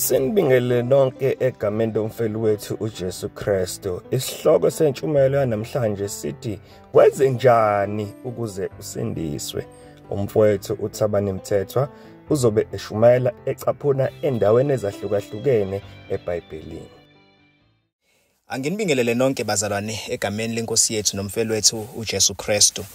Sinibingelele nonke egameni lomfeli wethu uJesu Kristu. Isihloko sentshumayelo yanamhlanje sithi wenze njani ukuze usindiswe. Umfowethu uThabani Mthethwa uzobe eshumayela ecaphuna endaweni ezahlukahlukene eBhayibhelini. Anginibingelele nonke bazalwane egameni lenkosi yethu nomfelwethu uJesu Kristu.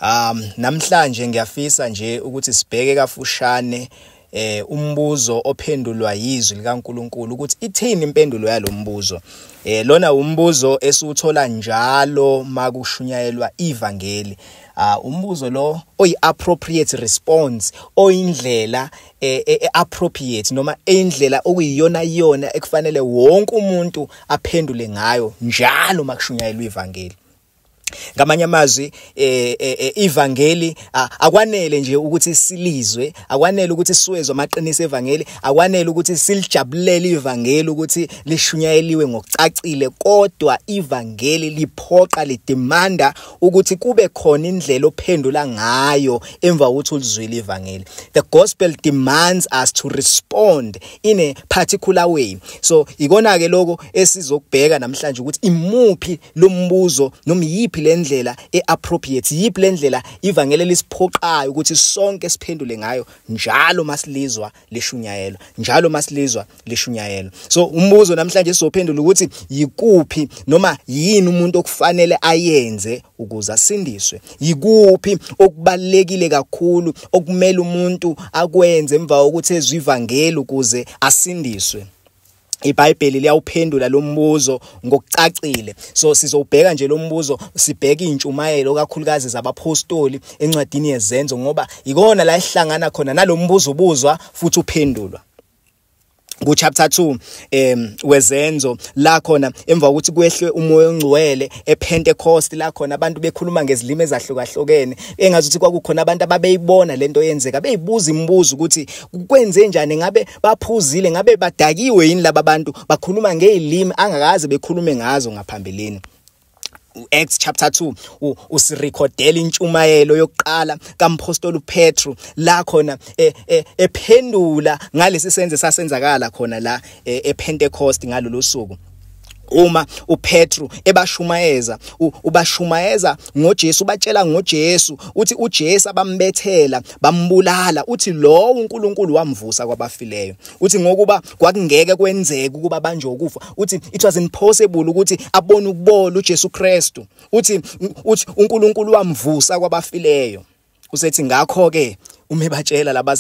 Um namhlanje ngiyafisa nje ukuthi sibheke kafushane eh umbuzo ophendulwa yizwi likaNkuluNkulu ukuthi ithini impendulo yalombuzo eh lona umbuzo esiwuthola njalo makushunyayelwa ivangeli ah umbuzo lo oyi appropriate response oyindlela eh, eh, eh, appropriate noma indlela okuyiyona iyona ekufanele wonke umuntu aphendule ngayo njalo makushunyayelwa ivangeli ngamanye amazwi eh, eh, eh, ivangeli akwanele nje ukuthi silizwe akwanele ukuthi siwezwe amaqiniso evangeli akwanele ukuthi silijabulele ivangeli ukuthi lishunyayeliwe ngokucacile kodwa ivangeli liphoqa lidemanda ukuthi kube khona indlela ophendula ngayo emva kokuthi ulizwile ivangeli the gospel demands us to respond in a particular way so ikona ke lokho esizokubheka namhlanje ukuthi imuphi lombuzo noma yipi lendlela eappropriate yipi lendlela ivangeli lisiphoqayo ukuthi sonke siphendule ngayo njalo masilizwa lishunyayelwa njalo masilizwa lishunyayelwa so umbuzo namhlanje sizophendula ukuthi yikuphi noma yini umuntu okufanele ayenze ukuze asindiswe yikuphi okubalekile kakhulu okumele umuntu akwenze emva kokuthi ezwivangeli ukuze asindiswe iBhayibheli liyawuphendula lo mbuzo ngokucacile so sizowubheka nje lo mbuzo sibheke intshumayelo kakhulukazi zabaphostoli encwadini yezenzo ngoba ikona la ihlangana khona nalombuzo ubuzwa futhi uphendulwa ku chapter 2 em wezenzo la khona emva kokuthi kwehle umoya ongcwele ePentecost la khona abantu bekhuluma ngezilimi ezahlukahlukene engazi ukuthi kwakukhona abantu ababeyibona lento yenzeka beyibuza imibuzo ukuthi kwenze njani ngabe baphuzile ngabe badakiwe yini laba bantu bakhuluma ngezilimi angakaze bekhulume ngazo ngaphambilini uActs chapter 2 usirecordela intshumayelo yokuqala kampostoli uPetru la khona e, e, ephendula ngalesi senze sasenzakala khona la e, ePentecost ngalolu suku uma uPetru ebashumayeza ubashumayeza ngoJesu batshela ngoJesu uthi uJesu abambethela bambulala uthi lowo uNkulunkulu wamvusa kwabafileyo uthi ngokuba kwakungeke kwenzeke ukuba banje ukufa uthi it was impossible ukuthi abone ukubola uJesu Kristu uthi uthi uNkulunkulu wamvusa kwabafileyo usethi ngakho ke uma ebatshela laba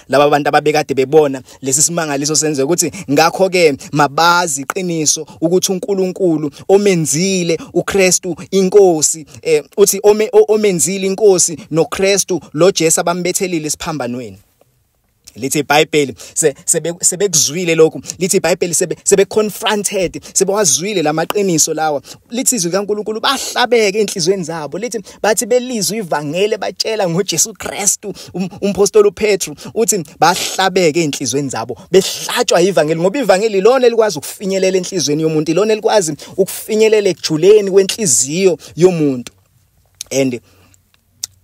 laba bantu ababekade bebona lesi simangaliso senze ukuthi ngakho ke mabazi iqiniso ukuthi uNkulunkulu omenzile uKristu inkosi eh uthi omenzile inkosi noKristu lo Jesu abambethelile esiphambanweni lithi iBhayibheli sebekuzwile lokhu lithi iBhayibheli sebe confronted sebewazwile lamaqiniso lawa lithi izwi kaNkuluNkulu bahlabeke enhlizweni zabo lithi bathi belizwe ivangeli batshela ngoJesu Kristu um, umpostoli uPetru uthi bahlabeke enhlizweni zabo behlatshwa ivangeli ngoba ivangeli lona elikwazi ukufinyelela enhlizweni yomuntu ilona elikwazi ukufinyelela ekujuleni kwenhliziyo yomuntu and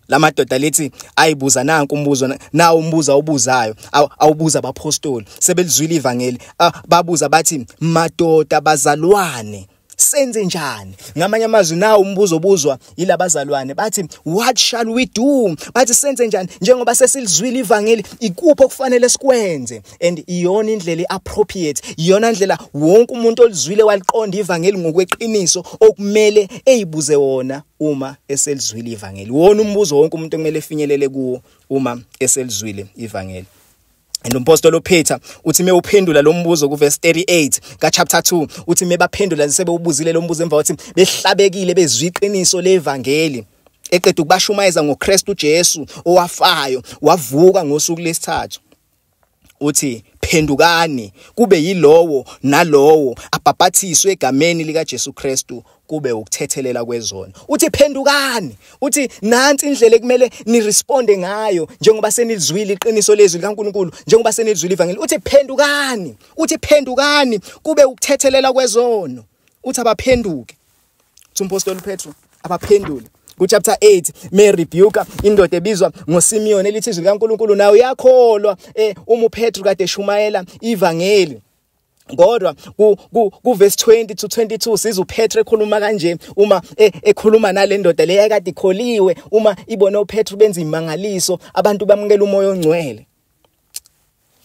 lamadoda lithi ayibuza nanku umbuzo nawo umbuza obuzayo awubuza abapostoli sebelizwile ivangeli babuza bathi madoda bazalwane senze njani ngamanye amazwi nawo umbuzo obuzwa yilabazalwane bathi what shall we do bathi senze njani njengoba sesilizwile ivangeli ikuphi okufanele sikwenze and iyona indlela iappropriate iyona ndlela wonke umuntu olizwile waliqonda ivangeli ngokweqiniso okumele eyibuze wona uma eselizwile ivangeli wona umbuzo wonke umuntu okumele efinyelele kuwo uma eselizwile ivangeli And umpostoli uPeter uthi mewuphendula lo mbuzo kuverse 38 ka chapter 2 uthi mebaphendula sebewubuzile lo mbuzo emva kokuthi behlabekile bezwi iqiniso levangeli eqeda ukubashumayeza ngoKristu Jesu owafayo wavuka ngosuku lesithathu uthi phendukani kube yilowo nalowo abhapathiswe egameni likaJesu Kristu kube ukuthethelela kwezono uthi phendukani uthi nansi indlela ekumele niresponde ngayo njengoba senizwile iqiniso lezwi likaNkuluNkulu njengoba senizwile ivangeli uthi phendukani uthi phendukani kube ukuthethelela kwezono uthi abaphenduke uthi umpostoli Petro abaphendule kuchapter 8 me rebuke indoda ebizwa ngoSimeon elithi izwi likaNkuluNkulu nayo yakholwa eh uma uPetru kade shumayela ivangeli kodwa ku ku, ku verse 20 to 22 siza uPetru ekhuluma kanje uma e, ekhuluma nalendoda leya kade ikholiwe uma ibona uPetru benza imangaliso abantu bamukela umoya ongcwele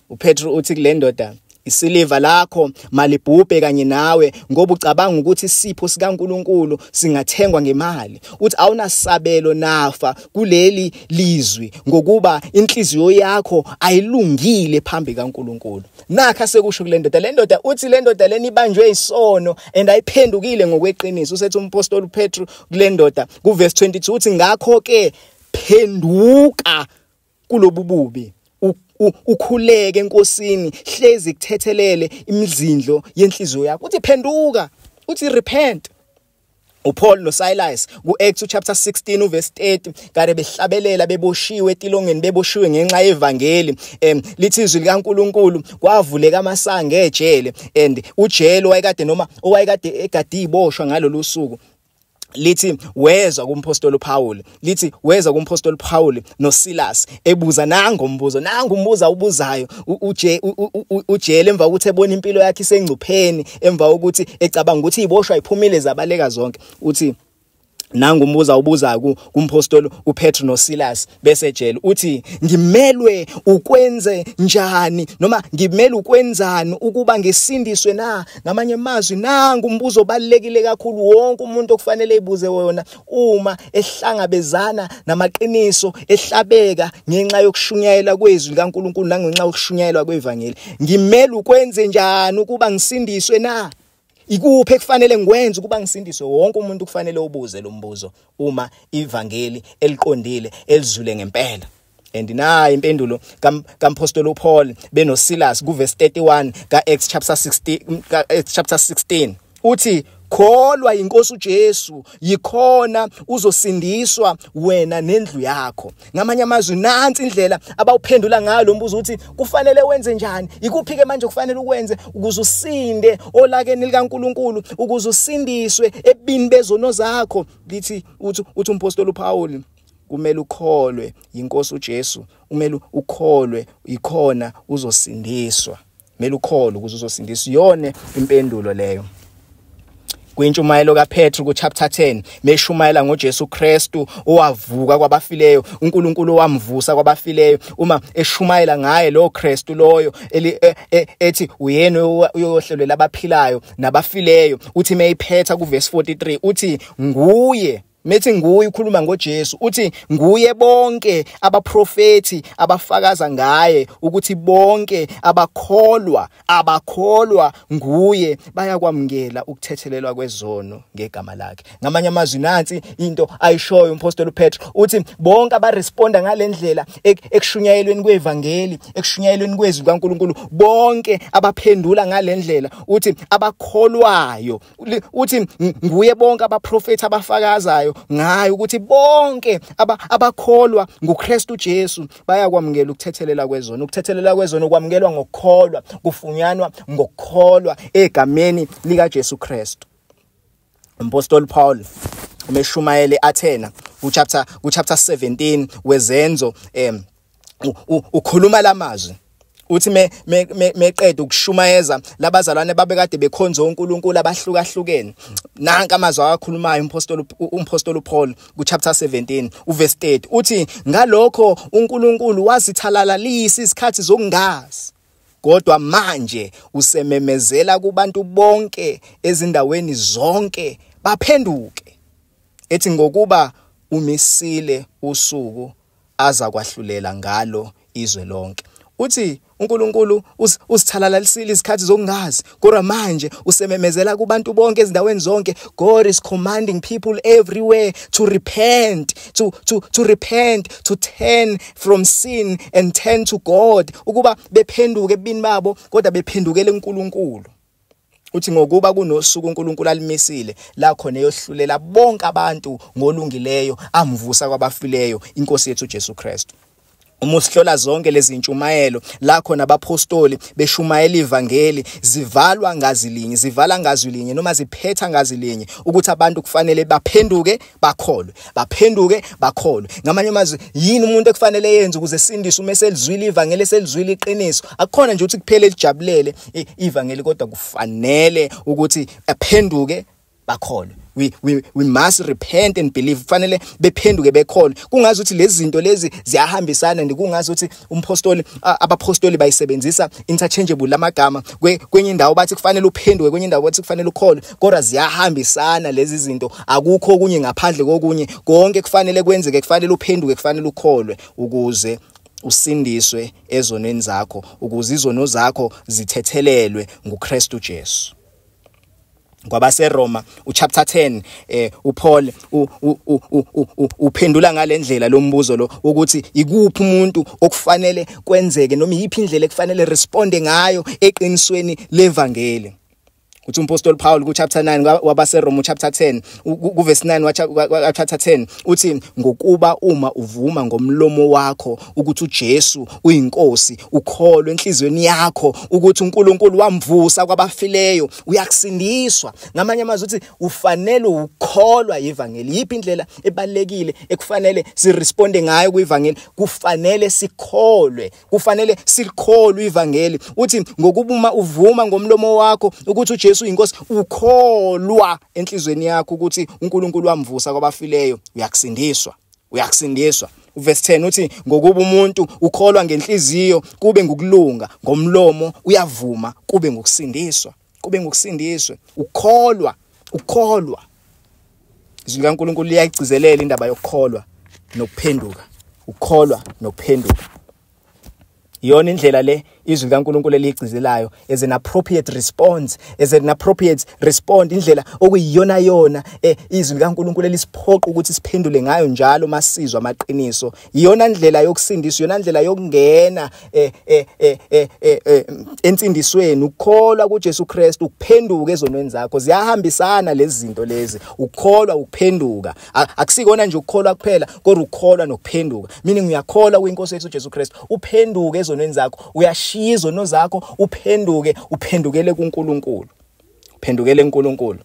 uPetru uthi kule ndoda isiliva lakho malibhubhe kanye nawe ngoba ucabanga ukuthi isipho sikaNkuluNkulu singathengwa ngemali uthi awunasabelo nafa kuleli lizwi ngokuba inhliziyo yakho ayilungile phambi kaNkuluNkulu nakha sekusho kule ndoda le ndoda uthi le ndoda leni ibanjwe isono and ayiphendukile ngokweqiniso usethi umpostoli uPetru kule ndoda kuverse 22 uthi ngakho ke phenduka kulobu bubi ukhuleke enkosini hlezi kuthethelele imizindlo yenhliziyo yakho uthi phenduka uthi repent uPaul noSilas kuActs chapter 16 uverse 30 kare behlabelela beboshiwe etilongeni beboshiwe ngenxa yevangeli em lithi izwi likaNkuluNkulu kwavuleka amasango ejele and ujele wayekade noma owayekade egadi iboshwa ngalolu suku lithi wezwa kumpostoli uPaul lithi wezwa kumpostoli uPaul noSilas ebuza nango umbuzo nango umbuza ubuzayo uje ujele emva ukuthi ebona impilo yakhe isengcupheni emva ukuthi ecabanga ukuthi iboshwa iphumile zabaleka zonke uthi nangu umbuza ubuza kumpostoli uPetru noSilas besejele uthi ngimelwe ukwenze njani noma ngimele ukwenzani ukuba ngisindiswe na ngamanye amazwi nangu umbuzo obalekile kakhulu wonke umuntu okufanele ibuze wona uma ehlangabezana namaqiniso ehlabeka ngenxa yokushunyayela kwezwi likaNkuluNkulu nangenxa yokushunyayelwa kwevangeli ngimele ukwenze njani ukuba ngisindiswe na ikuphi ekufanele ngikwenze ukuba ngisindiswe wonke umuntu kufanele ubuze lo mbuzo uma ivangeli eliqondile elizule ngempela and nayi impendulo kampostoli uPaul benoSilas kuverse 31 kaActs chapter 16 kaActs chapter 16 uthi kholwa inkosi uJesu yikhona uzosindiswa wena nendlu yakho ngamanye amazwi nansi indlela abawuphendula ngayo lo mbuzo uthi kufanele wenze njani ikuphi ke manje kufanele ukwenze ukuze usinde olakeni likaNkuluNkulu ukuze usindiswe ebini bezono zakho lithi uthi uthi umpostoli uPaul kumele ukholwe yinkosi uJesu kumele ukholwe yikhona uzosindiswa kumele ukholwe ukuze uzosindiswa yone impendulo leyo kwintshumayelo kaPetru kuchapter 10 meshumayela ngoJesu Kristu owavuka kwabafileyo uNkulunkulu wamvusa kwabafileyo uma eshumayela ngaye lo Kristu loyo e, e, ethi uyena uyohlelwela abaphilayo nabafileyo uthi meyiphetha kuverse 43 uthi nguye Methi nguye ukhuluma ngoJesu uthi nguye bonke abaprofeti abafakaza ngaye ukuthi bonke abakholwa abakholwa nguye bayakwamukela ukuthethelelwa kwezono ngegama lakhe ngamanye amazwi nansi into ayishoyo umpostoli uPetru uthi bonke abaresponda ngalendlela ekushunyayelweni kwevangeli ekushunyayelweni kwezwi kaNkuluNkulu bonke abaphendula ngalendlela uthi abakholwayo uthi nguye bonke abaprofethi abafakazayo ngayo ukuthi bonke abakholwa nguKristu Jesu bayakwamukela ukuthethelela kwezona ukuthethelela kwezona okwamukelwa ngokukholwa kufunyanwa ngokukholwa egameni lika Jesu Kristu umpostoli Paul umeshumayele Athena ku chapter ku chapter 17 wezenzo em ukhuluma lamazwi uthi me meqeda ukushumayeza labazalwane babekade bekhonza uNkulunkulu abahlukahlukene nanka amazwi awakhulumayo umpostoli umpostoli uPaul kuchapter 17 uverse 30 uthi ngalokho uNkulunkulu wasithalalalisa isikhathi zokungazi kodwa manje usememezela kubantu bonke ezindaweni zonke baphenduke ethi ngokuba umisile usuku aza kwahlulela ngalo izwe lonke uthi uNkulunkulu usithalalalisile izikhathi zokungazi kodwa manje usememezela kubantu bonke ezindaweni zonke God is commanding people everywhere to repent to to to repent to turn from sin and turn to God ukuba bephenduke ebini babo kodwa bephendukele uNkulunkulu uthi ngokuba kunosuku uNkulunkulu alimisile la khona eyohlulela bonke abantu ngolungileyo amvusa kwabafileyo inkosi yethu Jesu Kristu uma usihlola zonke lezi ntshumayelo la khona abaphostoli beshumayela ivangeli zivalwa ngazi linye zivala ngazi linye noma ziphetha ngazi linye ukuthi abantu kufanele baphenduke bakholwe baphenduke bakholwe ngamanye amazwi yini umuntu ekufanele yenze ukuze sindiswe uma selizwile ivangeli selizwile iqiniso akukhona nje ukuthi kuphele lijabulele ivangeli kodwa kufanele ukuthi aphenduke bakholwe we we we must repent and believe kufanele bephenduke bekhole kungazi ukuthi lezi zinto lezi ziyahambisana ndikungazi ukuthi umphostoli abaphostoli bayisebenzisa interchangeable lamagama kwenye indawo bathi kufanele uphenduke kwenye indawo bathi kufanele ukholwe kodwa ziyahambisana lezi zinto akukho okunye ngaphandle kokunye konke kufanele kwenzeke kufanele uphenduke kufanele ukholwe ukuze usindiswe ezonweni zakho ukuze izono zakho zithethelelwe nguKristu Jesu kwabaseRoma uchapter 10 eh uPaul uphendula ngalendlela lombuzo lo ukuthi ikuphi umuntu okufanele kwenzeke noma iyiphi indlela ekufanele responde ngayo eqinisweni levangeli uthi umpostoli Paul ku chapter 9 wabaseRoma chapter 10 kuvesi 9 wathatha 10 uthi ngokuba uma uvuma ngomlomo wakho ukuthi uJesu uyinkosi ukholwe enhlizweni yakho ukuthi uNkulunkulu wamvusa kwabafileyo uyakusindiswa ngamanye amazwi uthi ufanele ukukholwa yivangeli yipi indlela ebalekile ekufanele siresponde ngayo kuyivangeli kufanele sikholwe kufanele silikholwe ivangeli uthi ngokubuma uvuma ngomlomo wakho ukuthi uJesu uyinkosi ukholwa enhlizweni yakho ukuthi uNkulunkulu wamvusa kwabafileyo uyakusindiswa uyakusindiswa uverse 10 uthi ngokuba umuntu ukholwa ngenhliziyo kube ngukulunga ngomlomo uyavuma kube ngukusindiswa kube ngokusindiswe ukholwa ukholwa izwi likaNkulunkulu liyayigcizelela indaba yokukholwa nokuphenduka ukholwa nokuphenduka iyona indlela le izwi likaNkulunkulu eligcizelayo as an appropriate response as an appropriate respond indlela okuyiyona yona eh, izwi likaNkulunkulu elisiphoqa ukuthi siphendule ngayo njalo masizwa amaqiniso iyona ndlela yokusindiswa iyona ndlela yokungena eh, eh, eh, entsindisweni ukukholwa kuJesu Kristu ukuphenduka ezonweni zakho ziyahambisana lezi zinto lezi ukukholwa ukuphenduka akusikona nje ukukholwa kuphela kodwa ukukholwa nokuphenduka meaning uyakholwa kuinkosi yethu Jesu Kristu uphenduke ezonweni zakho uyashiya izono zakho uphenduke uphendukele kuNkulunkulu uphendukele kuNkulunkulu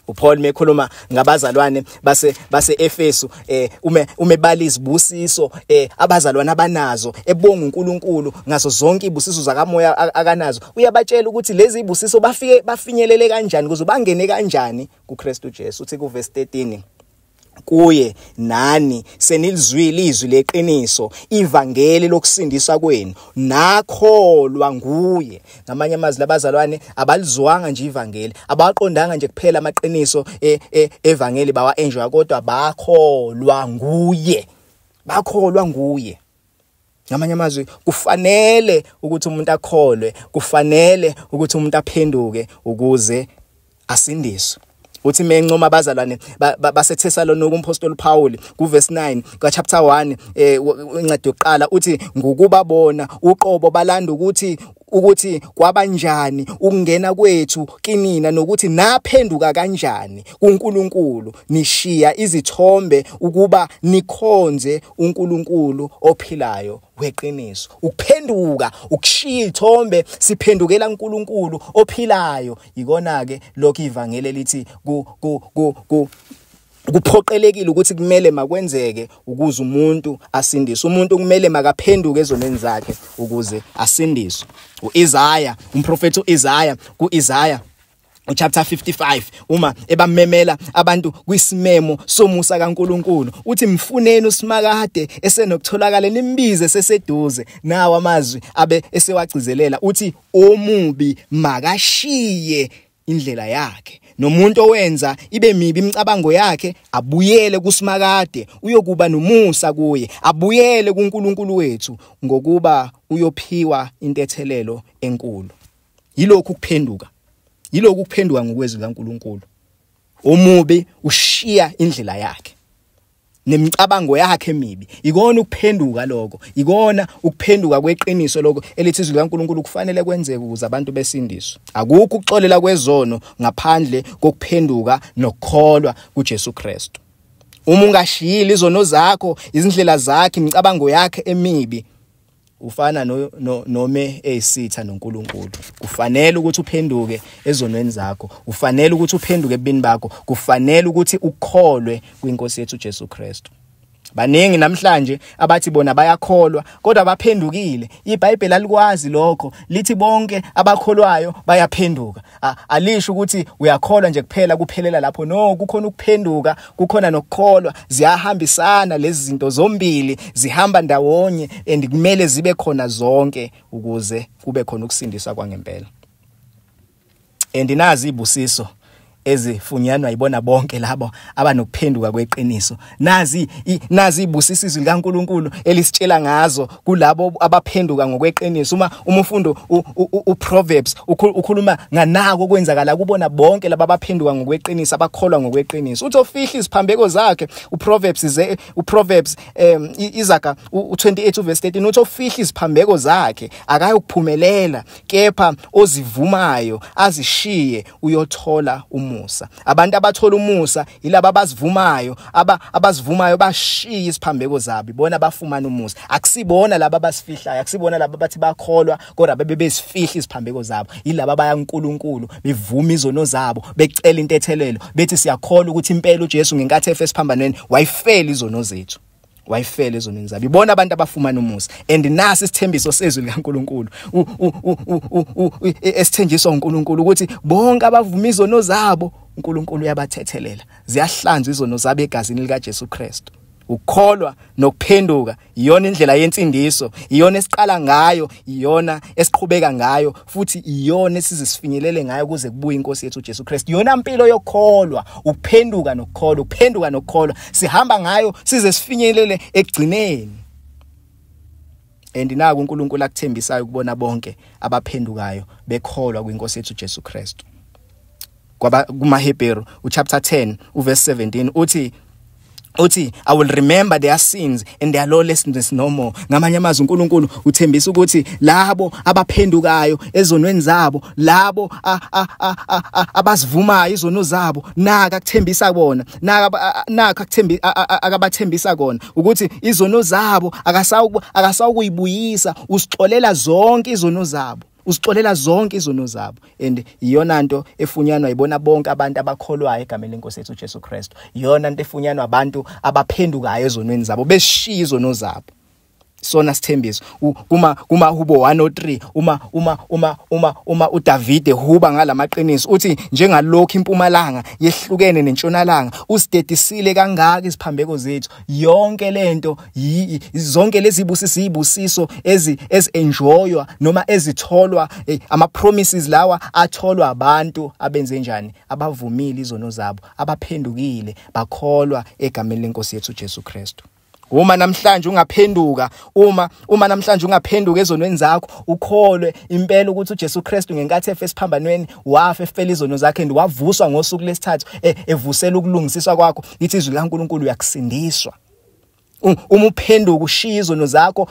uPaul mekhuluma ngabazalwane base baseEfesu eh ume umebala izibusiso eh abazalwane abanazo ebonga uNkulunkulu ngaso zonke ibusiso zakamoya akanazo uyabatshela ukuthi lezi ibusiso bafike bafinyelele kanjani kuze bangene kanjani kuKristu Jesu uthi kuverse 13 kuye nani senilizwile izwi leqiniso ivangeli lokusindisa kwenu nakholwa nguye ngamanye amazwi labazalwane abalizwanga nje ivangeli abaqondanga nje kuphela amaqiniso e, e, evangeli bawa enjoy kodwa bakholwa nguye bakholwa nguye ngamanye amazwi kufanele ukuthi umuntu akholwe kufanele ukuthi umuntu aphenduke ukuze asindiswe uthi mencoma abazalwane baseThesalonika umpostoli Paul kuverse 9 kaChapter 1 eh incwadi yokuqala uthi ngokuba bona uqobo balanda ukuthi ukuthi kwabanjani ukungena kwethu kinina nokuthi naphenduka kanjani kuNkulunkulu nishiya izithombe ukuba nikhonze uNkulunkulu ophilayo weqiniso ukuphenduka ukushiya ithombe siphendukela uNkulunkulu ophilayo ikona ke lokho ivangeli elithi ku ku ku kuphoqelekile ukuthi kumele makwenzeke ukuze umuntu asindiswe umuntu kumele makaphenduke ezonweni zakhe ukuze asindiswe uIsaya umprofethi uIsaya kuIsaya chapter 55 uma ebamemela abantu kwisimemo somusa kaNkuluNkulu uthi mfuneni usimakade esenokutholakala nimbize seseduze nawo amazwi abe esewagcizelela uthi omubi makashiye indlela yakhe nomuntu owenza ibe mibi imicabango yakhe abuyele kusimakade uyokuba nomusa kuye abuyele kuNkulunkulu wethu ngokuba uyophiwa intethelelo enkulu yilokhu kuphenduka yilokhu kuphenduka ngokwezi kaNkulunkulu omubi ushiya indlela yakhe nemicabango yakhe emibi ikona ukuphenduka lokho ikona ukuphenduka kweqiniso lokho elithi izwi likaNkuluNkulu kufanele kwenzeke ukuze abantu besindiswe akukho ukuxolela kwezono ngaphandle kokuphenduka nokukholwa kuJesu Kristu uma ungashiyile izono zakho izindlela zakhe imicabango yakhe emibi ufana no, no, nome eyisitha noNkulunkulu kufanele ukuthi uphenduke ezonweni zakho kufanele ukuthi uphenduke ebini bakho kufanele ukuthi ukholwe kwinkosi yethu Jesu Kristu baningi namhlanje abathi bona bayakholwa kodwa baphendukile iBhayibheli alikwazi lokho lithi bonke abakholwayo bayaphenduka alisho ukuthi uyakholwa nje kuphela kuphelela lapho no kukhona ukuphenduka kukhona nokukholwa ziyahambisana lezi zinto zombili zihamba ndawonye and kumele zibe khona zonke ukuze kube khona ukusindiswa kwangempela and nazi ibusiso ezifunyanwa yibona bonke labo abanokuphenduka kweqiniso Nazi nazi ibusisa izwi likaNkuluNkulu elisitshela ngazo kulabo abaphenduka ngokweqiniso uma umufundo uProverbs ukhuluma nganako kwenzakala kubona bonke laba abaphenduka ngokweqiniso abakholwa ngokweqiniso uthi ofihla iziphambeko zakhe uProverbs ze uProverbs um izaga u28 verse 13 uthi ofihla iziphambeko zakhe akayokuphumelela kepha ozivumayo azishiye uyothola umusa abantu abathola umusa yilabo abazivumayo aba abazivumayo bashiya isiphambeko zabi bona bafumana umusa akusibona laba abasifihlayo akusibona laba bathi bakholwa kodwa bebe besifihla isiphambeko zabo yilaba baya kuNkulunkulu bevuma izono zabo becela intethelelo bethi siyakholwa ukuthi impela uJesu ngenkathi efe esiphambanweni wayifela izono zethu wayifela ezonweni zabo ibona abantu abafumana umusa and nasi isithembiso sezwi likaNkuluNkulu esithenjiswa uNkuluNkulu ukuthi bonke abavuma izono zabo uNkuluNkulu uyabathethelela ziyahlanzwa izono zabo egazini likaJesu Kristu ukukholwa nokuphenduka iyona indlela yensindiso iyona esiqala ngayo iyona esiqhubeka ngayo futhi iyona esize sifinyelele ngayo kuze kubuye inkosi yethu uJesu Kristu yona mpilo yokholwa ukuphenduka nokukholwa ukuphenduka nokukholwa sihamba ngayo size sifinyelele ekugcineni and naku uNkulunkulu akuthembisayo kubona bonke abaphendukayo bekholwa kwinkosi yethu uJesu Kristu kwaba kumaHebheru uchapter 10 uverse 17 uthi uthi i will remember their sins and their lawlessness no more ngamanye amazwi uNkulunkulu uthembisa ukuthi labo abaphendukayo ezonweni zabo labo abazivumayo izono zabo naka kuthembisa kona naka naka kuthembi akabathembisa kona ukuthi izono zabo akasawukuyibuyisa usixolela zonke izono zabo usixolela zonke izono zabo and iyona nto efunyanwa ibona bonke abantu abakholwayo egameni lenkosi yethu uJesu Kristu iyona nto efunyanwa abantu abaphendukayo ezonweni zabo beshiya izono zabo sona sithembiso kuma kuma hubo 103 uma uma uma uma uma uDavide huba ngalamaqiniso uthi njengalokho impumalanga yehlukene nentshonalanga usidedisile kangaka isiphambeko zethu yonke lento zonke lezi busiso ibusiso ezi ezenjoywa noma ezitholwa eh, ama promises lawa atholwa abantu abenze njani abavumile izono zabo abaphendukile bakholwa egameni lenkosi yethu Jesu Kristu Uma namhlanje ungaphenduka uma uma namhlanje ungaphenduka ezonweni zakho ukholwe impela ukuthi uJesu Kristu ngenkathi efe esiphambanweni wafa efela izono zakhe and wavuswa ngosuku lesithathu e, evusela ukulungisiswa kwakho ithi izwi laNkuluNkulu uyakusindiswa uma uphenduka ushiya izono zakho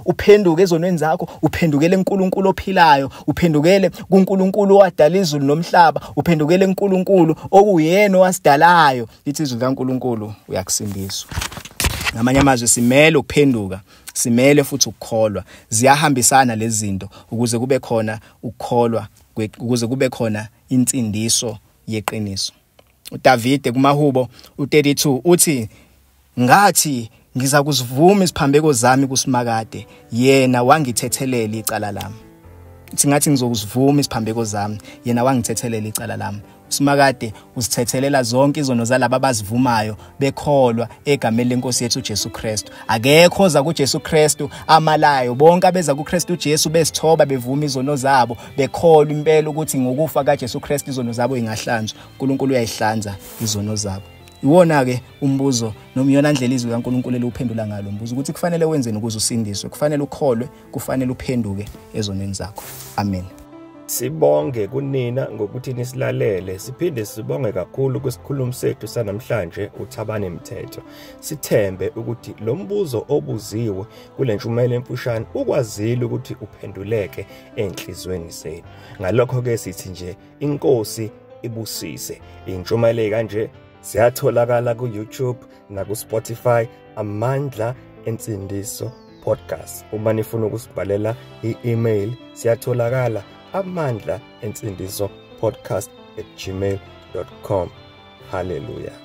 uphenduke ezonweni zakho uphendukele uNkulunkulu ophilayo uphendukele kuNkulunkulu owadala izulu nomhlaba uphendukele uNkulunkulu okuyena owasidalayo lithi izwi likaNkulunkulu uyakusindiswa ngamanye amazwi simele ukuphenduka simele futhi ukukholwa ziyahambisana lezi zinto ukuze kube khona ukukholwa ukuze kube khona insindiso yeqiniso uDavide kumahubo u32 uthi ngathi ngiza kuzivuma isiphambeko zami kusimakade yena wangithethelela icala lami singathi ngizokuzivuma isiphambeko zami yena wangithethelela icala lami usimakade usithethelela zonke izono zalabo abazivumayo bekholwa egameni lenkosi yethu uJesu Kristu akekho oza kuJesu Kristu amalayo bonke abeza kuKristu uJesu besithoba bevuma izono zabo bekholwa impela ukuthi ngokufa kaJesu Kristu izono zabo ingahlanzwa uNkulunkulu uyayihlanza izono zabo iwona ke umbuzo nomyona ndlela izwi kaNkuluNkulu eluphendula ngalo mbuzo ukuthi kufanele wenzeni ukuze usindiswe kufanele ukholwe kufanele uphenduke ezonweni zakho amen Sibonge kunina ngokuthi nisilalele siphinde sibonge kakhulu kwisikhulumi sethu sanamhlanje uThabane Mthetho. Sithembe ukuthi lo mbuzo obuziwe kule ntshumayelo emfushane ukwazile ukuthi uphenduleke enhlizweni zenu. Ngalokho ke sithi nje inkosi ibusise. Intshumayelo kanje siyatholakala ku-YouTube naku-spotify amandla ensindiso podcast uma nifuna ukusibhalela i-email siyatholakala amandla ensindiso podcast at gmail com haleluya